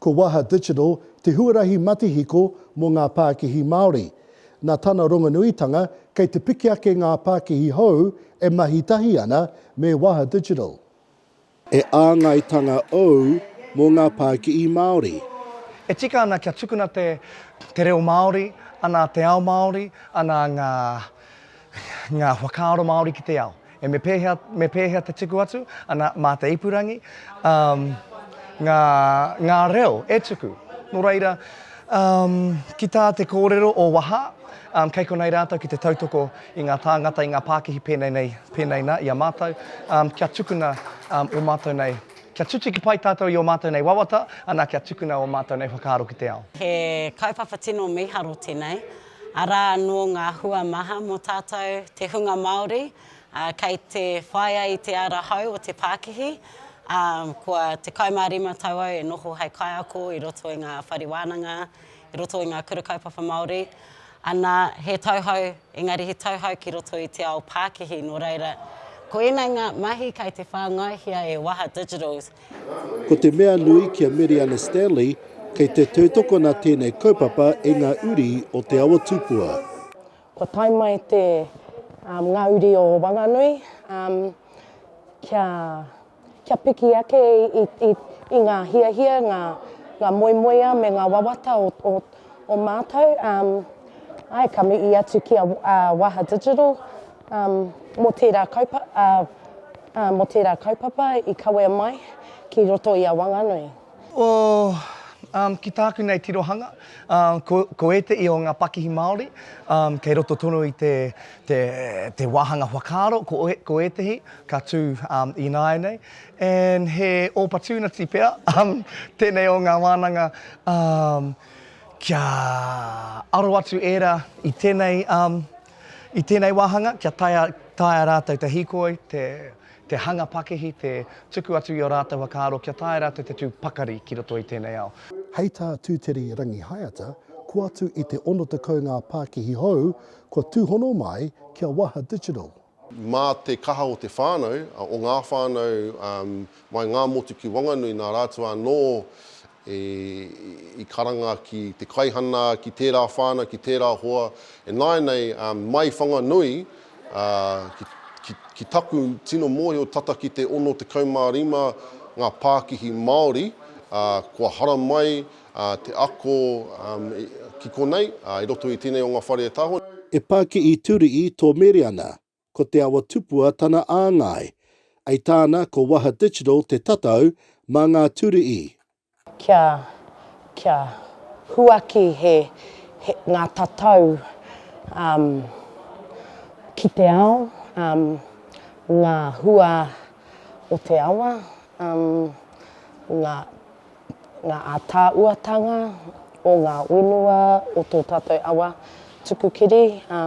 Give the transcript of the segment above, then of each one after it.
Ko Waha Digital te huarahi matihiko mō ngā pākihi Māori. Nā tana rongonuitanga, kei te piki ake ngā pākihi hou e mahi tahi ana me Waha Digital. He āngaitanga ōu mō ngā pākihi Māori? E tika ana kia tukuna te te reo Māori, ana te ao Māori, ana ngā ngā whakaaro Māori ki te ao. E me pēhea me pēhea te tuku atu, ana mā te ipurangi, um, ngā ngā reo e tuku. Nō reira, um, ki tā te kōrero o waha, um, kei konei rātou ki te tautoko i ngā tāngata, i ngā pākihi pēnei nei, pēnei nā, i a mātou, kia tukuna ō mātou nei, kia tutuki pai tātou i ō mātou nei wawata, anā, kia tukuna ō mātou nei whakaaro ki te ao. He kaupapa tino mīharo tēnei, arā anō ngā hua maha mō tātou te hunga Māori, kei te whāia i te ara hou o te pākihi, ā, kua 15 tau au e noho hei kaiako i roto i ngā whare wānanga, i roto i ngā Kura Kaupapa Māori, ana, he tauhou, engari he tauhou ki roto i te ao pākihi, nō reira, ko ēnei ngā mahi kei te whāngaihia e Waha Digital. Ko te mea nui ki a Meriana Stanley, kei te tautokona tēnei kaupapa e ngā uri o Te Awa Tupua. Kua tae mai te ngā uri o Wanganui kia. Kia piki ake i, i, i ngā hiahia, ngā, ngā moemoeā me ngā wawata o, o, o mātou. Um, ai, ka mihi atu ki a uh, Waha Digital um, mō, tērā kaupa, uh, uh, mō tērā kaupapa i kawea mai ki roto i a Wanganui. O, um, ki tāku nei tirohanga, um, ko, ko ēteʻi o ngā pakihi Māori, um, kei roto tonu i te, te, te wāhanga whakaaro, ko, ko ētehi ka tū um, ināianei, and he opportunity pea, um, tēnei o ngā wānanga, um, kia aro atu ērā i tēnei, um, i tēnei wāhanga, kia taea, taea rātou te hīkoi, te, te hanga pakihi, te tuku atu i ō rātou whakaaro kia taea rātou te tū pakari ki roto i tēnei ao. Hei tā Tūteri Rangihaeata, ko atu i te 60 ngā pākihi hou kua tūhono mai ki a Waha Digital. Mā te kaha o te whānau, o ngā whānau mai Ngāmotu ki Wanganui nā rātou anō E, i karanga ki te kaihana, ki tērā whānau, ki tērā hoa, e nāianei, ā, mai Whanganui, ā, ki, ki, ki taku tino mōhio tata ki te 65 ngā pākihi Māori, ā, kua haramai, ā, te ako, ā, i, ki konei, ā, i roto i tēnei o ngā whare e taho. E pā ki i Turiī tō Mereana, Ko Te Awa Tupua tana āngai. Ai tāna ko Waha Digital te tatau mā ngā ture i. Kia, kia huaki he, he, ngā tatau um ki te ao, um ngā hua o te awa, um ngā ngā ātaahuatanga o ngā whenua o tō tātou awa tuku kiri, ā,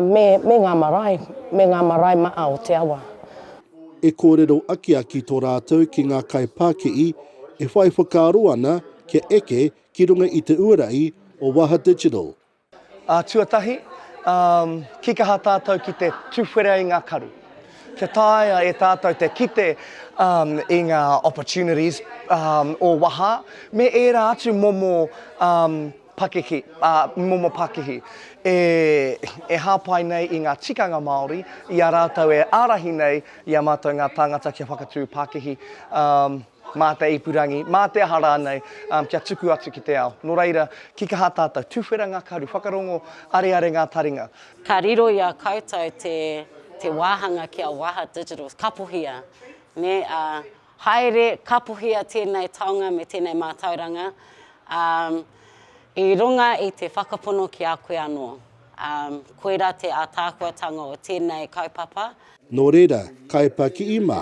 me, me ngā marae, me ngā marae maʻa o te awa. E kōrero akiaki tō rātou ki ngā kaipākihi e whai whakaaro ana kia eke ki runga i te uara i o Waha Digital. Ā, tuatahi, ā, kīkaha tātou ki te tuwhera i ngā karu. Kia taea e tātou te kite, ā, i ngā opportunities, ā, o waha, me ērā atu momo, ā, pakeke, ā, momo pakihi, e, e hāpai nei i ngā tikanga Māori, i a rātou e ārahi nei i a mātou ngā tāngata kia whakatū pakihi, ā, Mā te ipurangi, mā te aha rānei, ā, kia tuku atu ki te ao. Nō reira, ki kaha tātou? Tuwhera ngā karu, whakarongo, areare ngā taringa. Ka riro i a koutou te, te wāhanga ki a Waha Digital, kapohia, nē, ā, haere, kapohia tēnei taonga me tēnei mātauranga, ā, i runga i te whakapono ki a koe anō. Ā, koirā te ātaahuatanga o tēnei kaupapa. Nō reira, kaipakii mā,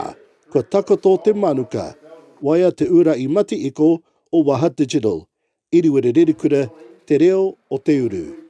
Kua takoto te manuka. Waea te ura i Mati Iko o Waha Digital. Iriwere Rerikura te reo o te uru.